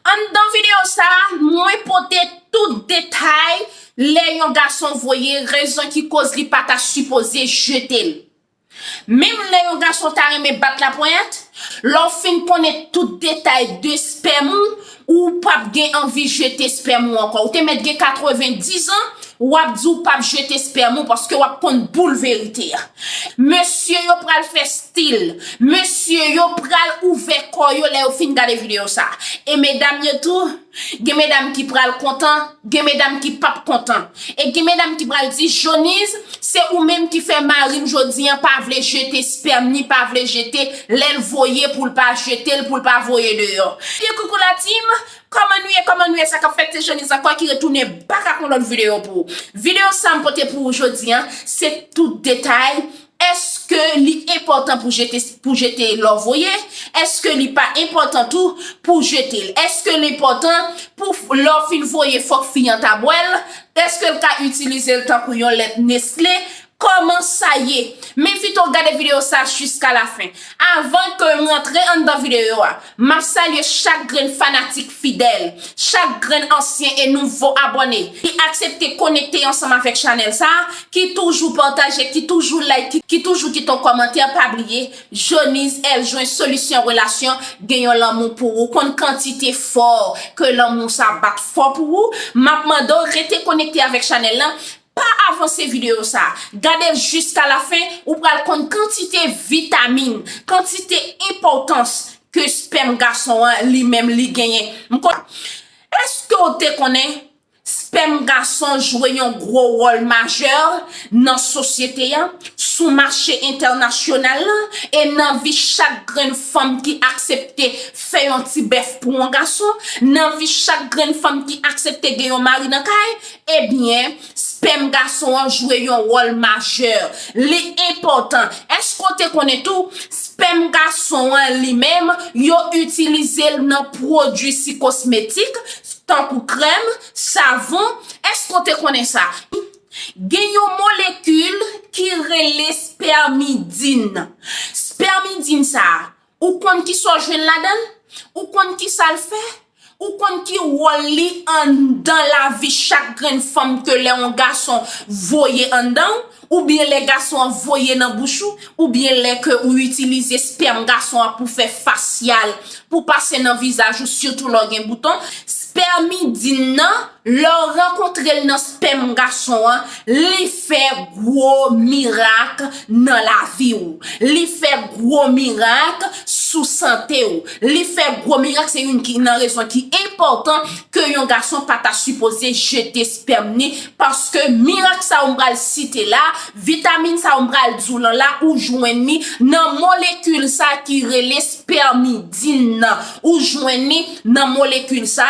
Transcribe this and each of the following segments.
Anndan videyo sa, mwen pote tout detay lè yon gason voye rezon ki koz li pa ta sipoze jete l. Menm lè yon gason ta renmen bat laponyèt, lè w fin konnen tout detay de spèm ou, ou pap gen anvi jete spèm ou ankò. Ou te mèt gen 90 ans, Wap di w pap jete sperm ou paske wap konn boul verite a. Mesye yo pral fè stil. Mesye yo pral ouvè kò yo lè yo fin gade video sa. E medam yo tou, gen medam ki pral kontan, gen medam ki pap kontan. E gen medam ki pral di Joniz, se ou menm ki fè marim jodi an pa vle jete sperm ni pa vle jete lèl voye poul pa jetel poul pa voye deyò. Ebyen koukou la team, Kòman nou ye kòman nou ye sa kap fèt se Shanice ankò ki retounen back ak yon lòt video pou ou video sa m pote pou ou jodi an se tout detay èske li enpòtan pou jete pou jete lè w voye èske li pa enpòtan tou pou w jete l èske l enpòtan pou lè w fin voye fòk fi an ta bwè l èske l ka itilize l tankou yon lèt nestle Kòman sa ye? Men fito gade video sa jiska la fen. Avan ke m rantre anndan video a, m ap salye chak grenn fanatik fidèl, chak grenn ansyen e nouvo abòne ki aksepte konekte ansanm avèk chanèl sa, ki toujou pataje, ki toujou like, ki toujou kite yon kòmantè, pa bliye, Jonise L. Jwen Solisyon Relasyon gen yon lanmou pou ou, konn kantite fò ke lanmou sa bat fò pou ou, m ap mande w rete konekte avèk chanèl lan, Pa avanse videyo sa, gade l jiska la fen ou pral konn kantite vitamin, kantite enpòtans ke spèm gason an li menm li genyen. M kon. Eske w te konnen spèm gason jwe yon gwo wòl majè nan sosyete a, sou mache entènasyonal la e nan vi chak grenn fanm ki aksepte fè yon ti bèf pou yon gason, nan vi chak grenn fanm ki aksepte gen yon mari nan kay? Ebyen, spèm gason an jwe yon wòl majè. Li enpòtan. Èske w te konnen tou, spèm gason an li menm, yo itilize l nan pwodui si kosmetik, tankou krèm, savon? Èske w te konnen sa? Gen yon molekil ki rele spèmidin. Spèmidin sa a, Ou konn kisa w jwenn ladan l? Ou konn kisa l fè? Ou konn ki wòl li anndan lavi chak grenn fanm ke lè yon gason voye anndan w, oubyen lè gason an voye nan bouch ou, oubyen lè ke ou itilize spèm gason an pou fè fasyal, pou pase nan vizaj ou sitou lè w gen bouton, spèmidin nan, Lè w rankontre l nan spèm gason an, li fè gwo mirak nan lavi w. Li fè gwo mirak sou sante w. Li fè gwo mirak se youn ki nan rezon ki enpòtan ke yon gason pa ta sipoze jete spèm ni paske mirak sa w m pral site la, vitamin sa w m pral di w lan la ou jwenn ni nan molekil sa ki rele spèmidin nan. Ou jwenn ni nan molekil sa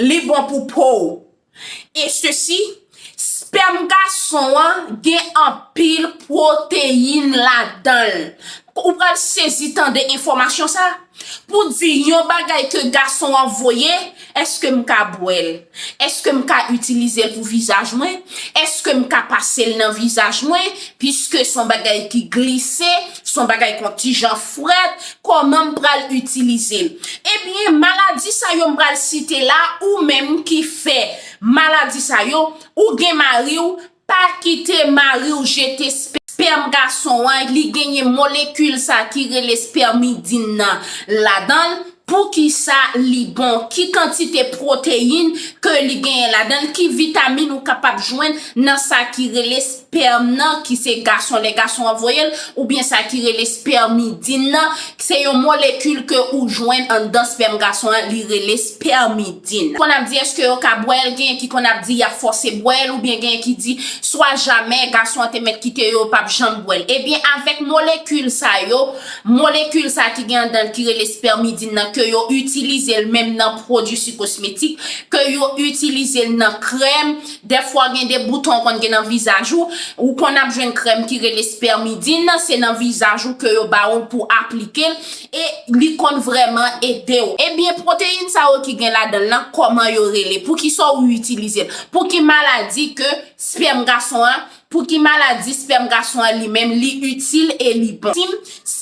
Li bon pou pow. E sesi, spèm gason an gen anpil pwoteyin ladanl. Ou pral sezi tande enfòmasyon sa. Pou di yon bagay ke gason an voye, eske m ka bwèl? Eske m ka itilizel pou vizaj mwen? Eske m ka pasel nan vizaj mwen? Piske son bagay ki glise. Son bagay kontijan frèt kòman m pral itilize l. Ebyen maladi sa yo m pral site la ou menm ki fè maladi sa yo ou gen mari w pa kite mari w jete spèm gason an li genyen molekil sa ki rele spèmidin nan ladan l poukisa li bon ki kantite pwoteyin ke li genyen ladan l ki vitamin ou kapab jwenn nan sa ki rele Spèm nan, ki se gason lè gason an voye l, oubyen sa ki rele spèmidin nan, se yon molekil ke ou jwenn anndan spèm gason an, li rele spèmidin. Konn ap di eske yo ka bwè l, genyen ki konn ap di y ap fòse bwè l, oubyen genyen ki di swa jamè gason an te mèt kite yo, yo p ap janm bwè l. Ebyen avèk molekil sa yo, molekil sa ki gen anndan l ki rele spèmidin nan ke yo itilize l menm nan pwodui si kosmetik, ke yo itilize l nan krèm, Dèfwa gen de bouton konn gen nan vizaj ou, ou konn ap jwenn krèm ki rele spermidine, se nan vizaj ou ke yo ba ou l pou aplike l, e li konn vrèman ede w. Ebyen pwoteyin sa yo ki gen ladan l lan kòman yo rele, poukisa ou itilize l, pou ki maladi ke spèm gason an Pou ki maladi spèm gason an li menm li itil e li bon? Tim,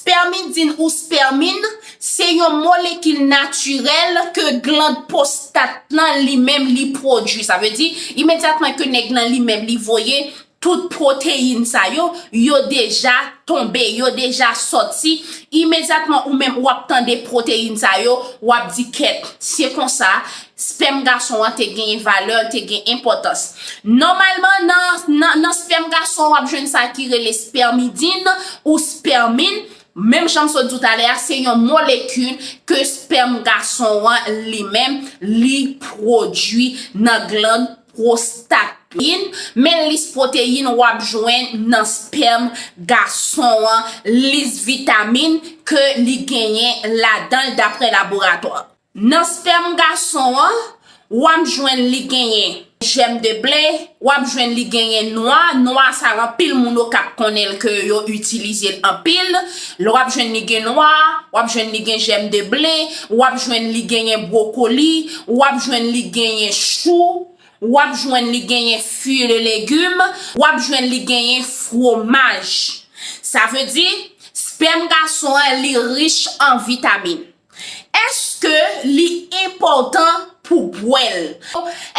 Spèmidin ou spèmin, se yon molekil natirèl ke gland postat nan li menm li pwodui. Sa vle di, imedyatman ke nèg nan li menm li voye tout pwoteyin sa yo, yo deja tonbe, yo deja sòti, imedyatman ou menm ou ap tande pwoteyin sa yo, ou ap di kèt, se konsa, Spèm gason an te genyen valè, l te gen enpòtans. Nòmalman, nan spèm gason w ap jwenn sa ki rele spèmidin ou spèmin, menm jan m sot di w talè a, se yon molekil ke spèm gason an li menm li pwodui nan glann pwostat li, men lis pwoteyin w ap jwenn nan spèm gason an, lis vitamin ke li genyen ladan l daprè laboratwa. Nan spèm gason an, w ap jwenn li genyen jèm de ble, w ap jwenn li genyen nwa, nwa sa anpil moun okap konnen l ke yo itilize l anpil, l w ap jwenn li gen nwa, w ap jwenn li gen jèm de ble, w ap jwenn li genyen bwokoli, w ap jwenn li genyen chou, w ap jwenn li genyen fwi e legim, w ap jwenn li genyen fwomaj. Sa vle di, spèm gason an li rich an vitamin. Èske li enpòtan pou w bwè l?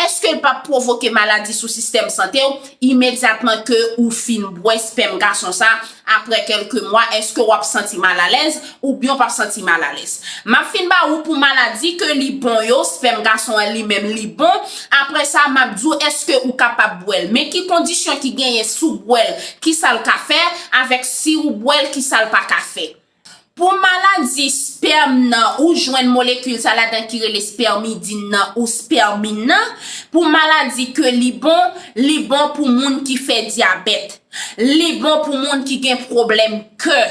Èske l p ap pwovoke maladi sou sistèm sante w imedyatman ke ou fin bwè spèm gason sa a aprè kèlke mwa? Èske w ap santi malalèz oubyen w p ap santi malalèz? M ap fin ba ou pou maladi ke li bon yo, spèm gason an li menm li bon, aprè sa m ap di w èske ou kapab bwè l, men ki kondisyon ki genyen si w bwè l, kisa l ka fè, avèk si ou bwè l kisa l pa ka fè. Pou maladi spèm nan ou jwenn molekil sa ladan ki rele spèmidin nan ou spèmin nan, pou maladi ke li bon, li bon pou moun ki fè dyabèt, li bon pou moun ki gen pwoblèm kè.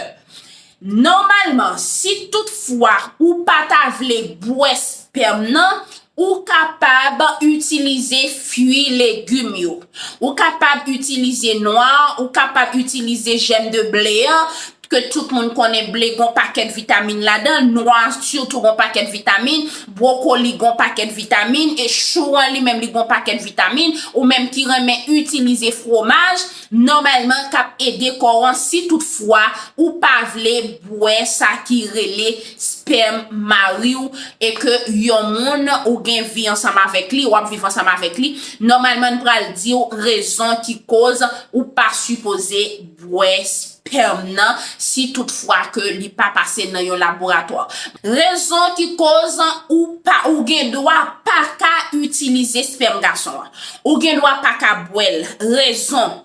Nòmalman, si tout fwa ou pa ta vle bwè spèm nan, Ou kapab itilize fui legum yo. Ou kapab itilize nwa, ou kapab itilize jèm de ble an, ke tout moun konnen ble gon pakèt vitamin ladan l, nwa sitou gon pakèt vitamin, brokoli gon pakèt vitamin e chou an li menm li gon pakèt vitamin, ou menm ki renmen itilize fwomaj, nòmalman k ap ede kò an si tout fwa ou pa vle bwè sa ki rele spèm mari w e ke yon moun ou gen vi ansanm avèk li, w ap viv ansanm avèk li, nòmalman n pral di w rezon ki koz ou pa sipoze bwè spèm. pèm nan si tout fwa ke li pa pase nan yon laboratwa. Rezon ki koz ou pa ou gen dwa pa ka itilize spèm gason an. Ou gen dwa pa ka bwè l. Rezon,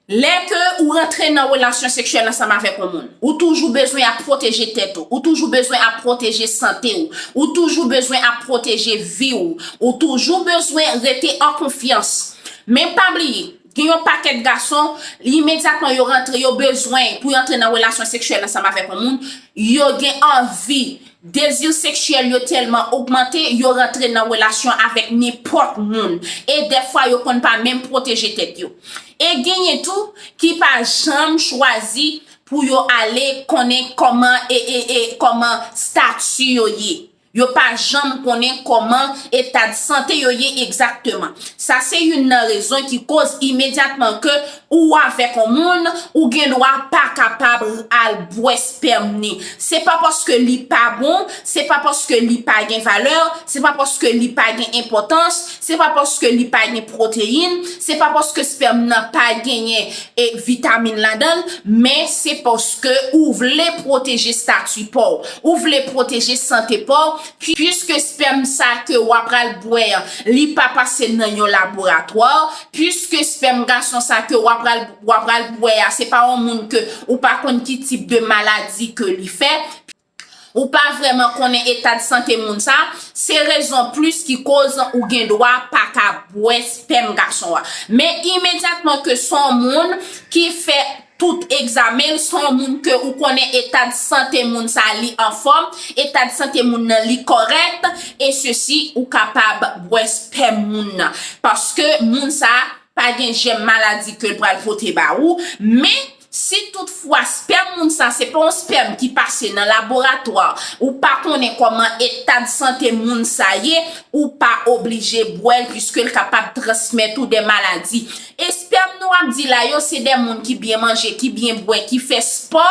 Lè ke ou rantre nan relasyon seksyèl ansanm avèk yon moun, ou toujou bezwen ap pwoteje tèt ou, ou toujou bezwen ap pwoteje sante ou, ou toujou bezwen ap pwoteje vi ou, ou toujou bezwen rete an konfyans. Men pa bliye. Gen yon pakèt gason, imedyatman yo rantre, yo bezwen pou yo antre nan relasyon seksyèl ansanm avèk yon moun, yo gen anvi, dezi seksyèl yo tèlman ogmante, yo rantre nan relasyon avèk nenpòt moun. E dèfwa yo konn pa menm pwoteje tèt yo. E genyen tou ki pa janm chwazi pou yo ale konnen kòman e e e kòman stati yo ye. Yo pa janm konnen kòman etad sante yo ye egzakteman. Sa se youn nan rezon ki koz imedyatman ke ou avèk on moun, ou gen dwa pa kapab al bwè spèm ni. Se pa paske li pa bon, se pa paske li pa gen valè, se pa paske li pa gen enpòtans, Se pa paske li pa gen pwoteyin, se pa paske spèm nan pa genyen e vitamin ladan l, men se paske ou vle pwoteje stati pa w, ou vle pwoteje sante pa w, puiske spèm sa ke w apral bwè an, li pa pase nan yon laboratwa, puiske spèm gason sa ke w apral w apral bwè a se pa yon moun ke ou pa konn ki tip de maladi ke li fè, ou pa vrèman konnen etad sante moun sa, se rezon plis ki koz ou gen dwa pa ka bwè spèm gason an. Men imedyatman ke son moun ki fè tout egzamen l, son moun ke ou konnen etad sante moun sa li anfòm, etad sante moun nan li kòrèk, e sesi ou kapab bwè spèm moun nan. Paske moun sa pa gen jèm maladi ke l pral pote ba ou, men. Si tout fwa spèm moun sa se pa yon spèm ki pase nan laboratwa, ou pa konnen kòman etad sante moun sa ye, ou pa oblije bwè l piske l kapab transmèt ou de maladi. Espèm nou ap di la yo se de moun ki byen manje, ki byen bwè, ki fè spò,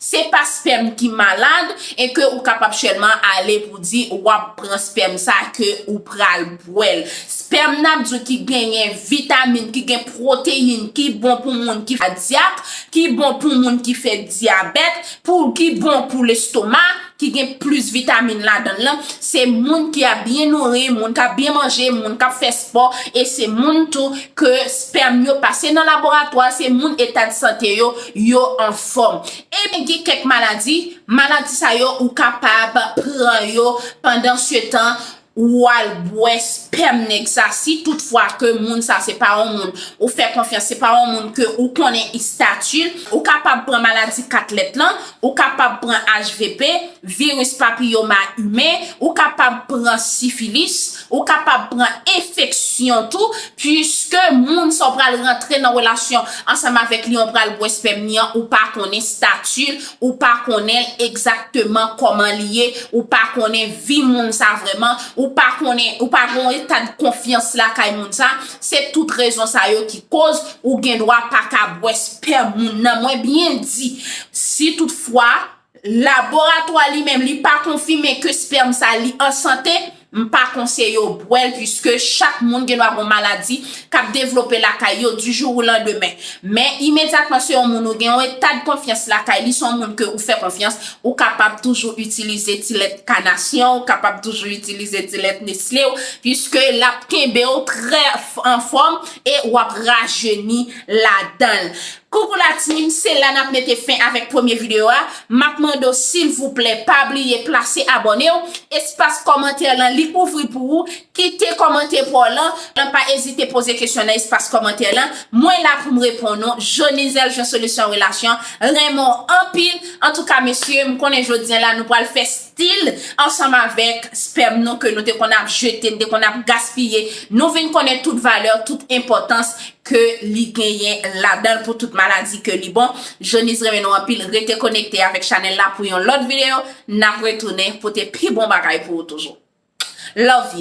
se pa spèm ki malad e ke ou kapab sèlman ale pou di wap pran spèm sa ke ou pral bwè l. Spèm nap diw ki genyen vitamin, ki gen proteyin, ki bon pou moun ki kadyak, ki bon pou moun ki fè dyabèt, pou ki bon pou lestoma, ki gen plis vitamin ladann lan, se moun ki ap byen nouri, moun kap byen manje, moun kap fè spò, e se moun tou ke spèm yo pase nan laboratwa, se moun eta de sante yo, yo anfòm. Ebyen gen kèk maladi, maladi sa yo ou kapab pran yo pandan setan Ou al bwè spèm nèg sa si tout fwa ke moun sa se pa yon moun ou fè konfyans, se pa yon moun ke ou konnen istati l, ou kapab pran maladi 4 lèt lan, ou kapab pran HVP, viris papiyoma imen, ou kapab pran sifilis, ou kapab pran enfeksyon tou, puiske moun sa w pral rantre nan relasyon ansanm avèk li an pral bwè spèm li an ou pa konnen stati l, ou pa konnen l egzakteman kòman li ye, ou pa konnen vi moun sa vrèman, ou pa konnen, ou pa gen yon etadkonfyans lakay moun sa, se tout rezon sa yo ki koz ou gen dwa pa ka bwè spèm moun nan. Mwen byen di, si tout fwa, laboratwa li menm li pa konfime ke spèm sa li an sante, M pa konseye w bwè l puiske chak moun gen dwa gon maladi k ap devlope lakay yo du jour ou landemen. Men imedyatman se yon moun ou gen yon etad konfyans lakay li, se yon moun ke ou fè konfyans, ou kapab toujou itilize ti lèt kanasyon, ou kapab toujou itilize ti lèt nesle w puiske l ap kenbe w trè anfòm e w ap rajeni ladan l. Coucou la team se la nap mete fen avèk premye video a map mande w silvouplè pa bliye plase abòne w espas kòmantè lan li ouvri pou ou kite kòmante pa w lan lan pa ezite poze kesyon nan espas kòmantè lan mwen la pou m reponn ou Jonizel Jean solution relation renmen w anpil antouka mesye m konnen jodi an la nou pral fè Stil, ansanm avèk spèm nou ke nou te konn ap jete, nou te konn ap gaspiye, nou vin konnen tout valè, tout enpòtans ke li genyen ladanl pou tout maladi ke li bon. Joniz renmen nou anpil, rete konekte avèk chanèl la pou yon lòt videyo, nap retounen pote pi bon bagay pou ou toujou. Love you.